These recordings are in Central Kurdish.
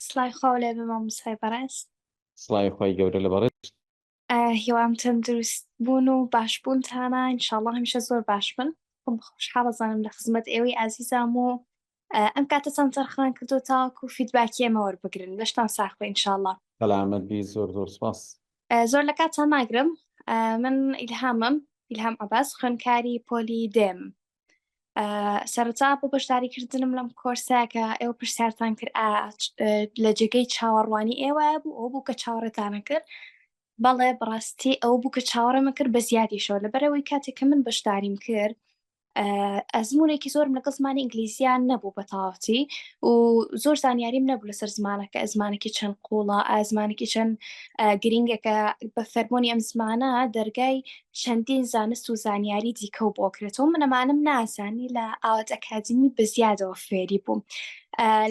سڵاوی خوا لێ بێ مامۆستای بەڕێز. سڵاوی خوای گەورە لە بەڕێزت. هیوام تەندروست بوون و باش بوونتانە ان شاء اللە هەمیشە زۆر باش بن خۆم خۆشحاڵ ئەزانم لە خزمەت ئێوەی ئازیزام و ئەم کاتەتان تەرخان کردو تاوەکو فیدباکی ئێمە وەربگرن لەشتان ساخ بێ ان شاء اللە. سەلامەت بی زۆر زۆر سوپاس. زۆر لە کاتتان ناگرم من ئیلهامم ئیلهام عەباس خوێندکاری پۆلی دێم. سەرچا بۆ بەشداریکردنم لەم کۆرساکە ئێوە پرسیارتان کرد لە جێگەی چاوەڕوانی ئێوە بوو ئەو بوو کە چاوەڕێتانە کرد بەڵێ بڕاستی ئەو بوو کە چاوەڕێمە کرد بە زیادیشەوە لە بەرەوەی کاتێک کە من بەشداریم کرد ئەزمونێکی زۆرم لەگەڵ زمانی ئینگلیزیان نەبوو بە تاواتی و زۆر زانیاریم نەبوو لەسەر زمانەکە ئەزمانێکی چەند قوڵە ئازمانێکی چەند گرنگەکە بە فەرمۆنی ئەم زمانە دەرگای چەندین زانست و زانیاری دیکە و بۆکرێتەوە من ئەمانم نازانی لە ئاوات ئەکادمی بەزیادەوە فێری بووم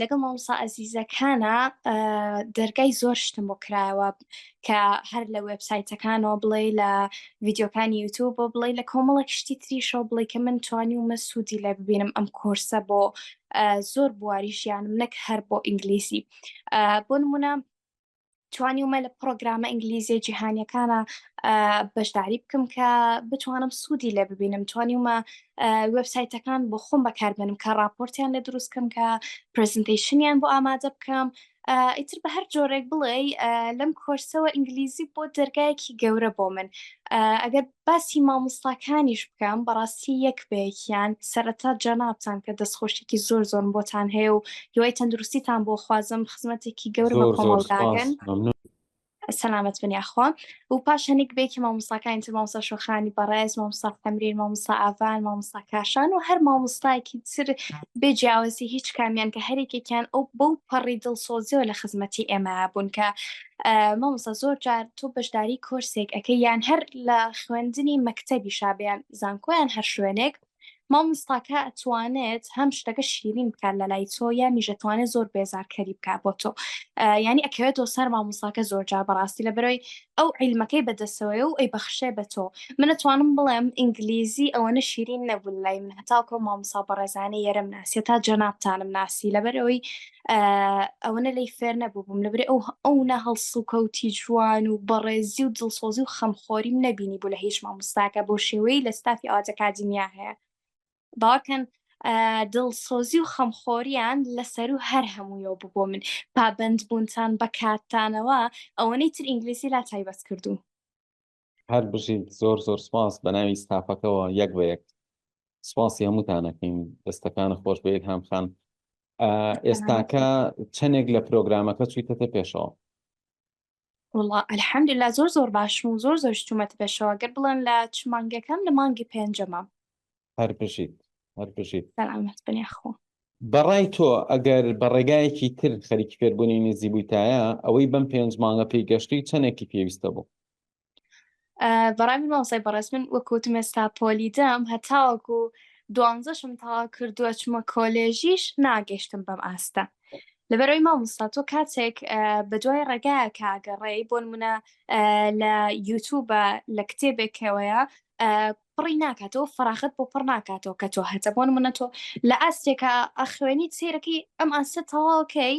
لەگەڵ مامسا ئەزیزەکانە دەرگای زۆر شتم بۆ کرایەوە کە هەر لە وبسایتەکانەوە بڵێ لە ڤیددیوکانی یوتوب بۆ بڵێ لە کۆمەڵک شتی تریشەوە بڵێ کە من توانی ومە سوودی لە ببینم ئەم کۆرسە بۆ زۆر بواری ژیانم نەک هەر بۆ ئینگلیسی بۆ نمونە توانیومە لە پرۆگرامە ئینگلیزیە جیهانیەکانە بەشداری بکەم کە بتوانم سوودی لێ ببینم توانیومە وبسایتەکان بۆ خۆم بەکاربێنم کە راپۆرتیان لە دروستکەم کە پرزنتیشنیان بۆ ئامادە بکەم ئیتر بە هەر جۆرێک بڵێ لەم کۆرسەوە ئینگلیزی بۆ دەرگایەکی گەورە بۆ من ئەگەر باسی مامۆستاکانیش بکەم بەڕاستی یەک بە یەکیان سەرەتا جەنابتان کە دەست خۆشیەکی زۆر زۆرم بۆتان هەیە و هیوای تەندروستیتان بۆ خوازم خزمەتێکی گەورمە کۆمەڵگاکەن سەلامەت بن یاخوا و پاش هەنیک بێکی مامۆستاکانی تر مامۆستا شۆخانی بەڕێز مامۆستا تەمرین مامۆستا ئاڤان مامۆستا کاشان و هەر مامۆستایەکی تر بێ جیاوازی هیچ کامیان کە هەرێکێکیان ئەو بەو پەڕی دڵسۆزیەوە لە خزمەتی ئێمە بوون کە مامۆستا زۆر جار تۆ بەشداری کۆرسێک ئەەکەی یان هەر لە خوێندنی مەکتەبی شابیان زانکۆیان هەر شوێنێک مامۆستاکە ئەتوانێت هەم شتەکە شیرین بکات لە لای تۆ یا میژەتوانێت زۆر بێزارکەری بکات بۆ تۆ ینی ئەکەوێتەوە سەر مامۆستاکە زۆر جار بەڕاستی لە بەرەوەی ئەو عیلمەکەی بەدەسەوەی و ئەی بەخشێ بە تۆ منەتوانم بڵێم ئینگلیزی ئەوەنە شیرین نەبوو لای من هەتاکۆ مامۆسا بەڕێزانە یەرم ناسیێت تا جەنابتانم ناسی لەبەرەوەی ئەوەنە لی فێر نەبووبووم لەبرێ ئەو ئەو نە هەڵسوکەوتی جوان و بەڕێزی و دڵسۆزی و خەمخۆریم نەبینی بوو لە هیچ مامۆستاکە بۆ شێوەی لە ستافی ئاواجە کادیمیا هەیە باکەن دڵسۆزی و خەمخۆریان لەسەر و هەر هەموویەوە ببوو من پابند بوونتان بە کاتتانەوە ئەوەنەی تر ئینگلیسی لا تایبەت کردوون هەر بژیت زۆر زۆر سپاس بە ناوی ستافەکەەوە یەک بە یەک سپاسی هەمووتانەکەین دەستەکان خۆش بە یەک هامخان ئێستاکە چەندێک لە پرۆگرامەکە چیتەتە پێشەوە وڵا ئەلحەمدلا زۆر زۆر باشم و زۆر زۆر شتومەت پێشەوە گەر بڵێن لە چ مانگەکەم لە مانگی پێنجەمە هەر بژیت هەر بژیت سەلامەت بن یاخوا بەڕای تۆ ئەگەر بە ڕێگایەکی تر خەریکی فێربوونی نزی بوویتایە ئەوەی بەم پێنج مانگە پێی گەشتی چەندێکی پێویستە بوو ئە، بەڕای من مامۆستای بەڕێز من وەکوتم ئێستا پۆلی دەم هەتاوەکو دوانزەشم تەواو کردووە چمە کۆلێژیش ناگەشتم بەم ئاستە لەبەرەوەی مامۆستا تۆ کاتێک ئە، بە دوای ڕێگایە کاگەڕێی بۆ نمونە ئە، لە یوتوبە لە کتێبێکەوەیە ئە، پڕی ناکاتەوە فەراغەت بۆ پڕ ناکاتەوە کە تۆ هەتە بۆن منە تۆ لە ئاستێکە ئەخوێنیت سیرەکەی ئەم ئاستە تەواوکەی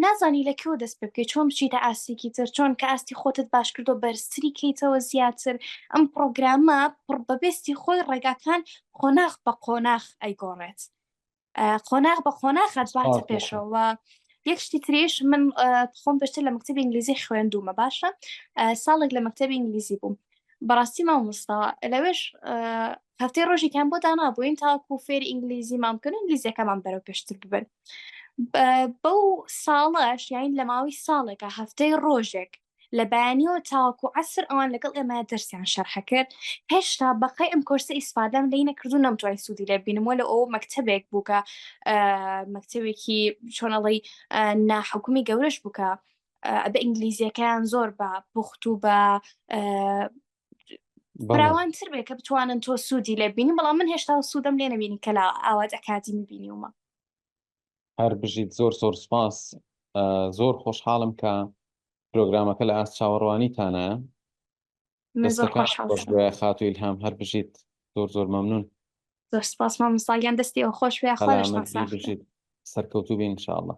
نازانی لە کێوە دەست پێ بکەیت چۆن بچیتە ئاستێکی تر چۆن کە ئاستی خۆتت باش کردو بەرزتری کەیتەوە زیاتر ئەم پرۆگرامە پڕ بەبستی خۆی ڕێگاکان قۆناخ بە قۆناخ ئەیگۆڕێت قۆناغ بە قۆناخە دواتە پێشەوە یەک شتی تریش من خۆم پشتر لە مکتتەبی ئینگلیزی خوێندومە باشە ساڵێک لە مکتتەبی ئینگلیزی بووم بەڕاستی مامۆستا لەوێش هەفتەی ڕۆژێکیان بۆ دانابووین تاکو فێر ئینگلیزی مامکن و ئینگلیزیەکەمان بەرەو پێشتر ببن بەو ساڵەش یاین لە ماوەی ساڵێکە هەفتەی ڕۆژێک لە بەیانیەوە تاوەکو عەسر ئەوان لەگەڵ ئێمە دەرسیان شەرح کرد هێشتا بەقەی ئەم کۆرسە ئیسفادەم لێی نەکردو نەمتوای سوودی لێ بینم وە لە ئەو مەکتەبێک بووکە مەکتەبێکی چۆنەڵی ناحکومی گەورەش بووکە بە ئینگلیزیەکەیان زۆر بە پوخت و بە براوانتر بێ کە بتوانن تۆ سوودی لێ بینی بەڵام من هێشتا سوودم لێ نبینی کە لە ئاوات ئەکادیمی بینیومە هەر بژیت زۆر زۆر سپاس زۆر خۆشحاڵم کە پرۆگرامەکە لە ئاست چاوەڕوانیتانە خاتو ئیلهام هەر بژیت زۆر زۆر مەمنون زۆر سپاس مامۆستاگیان دەستی ئەو خۆش وێ خۆشبژیت سەرکەوتو بین انشاءالله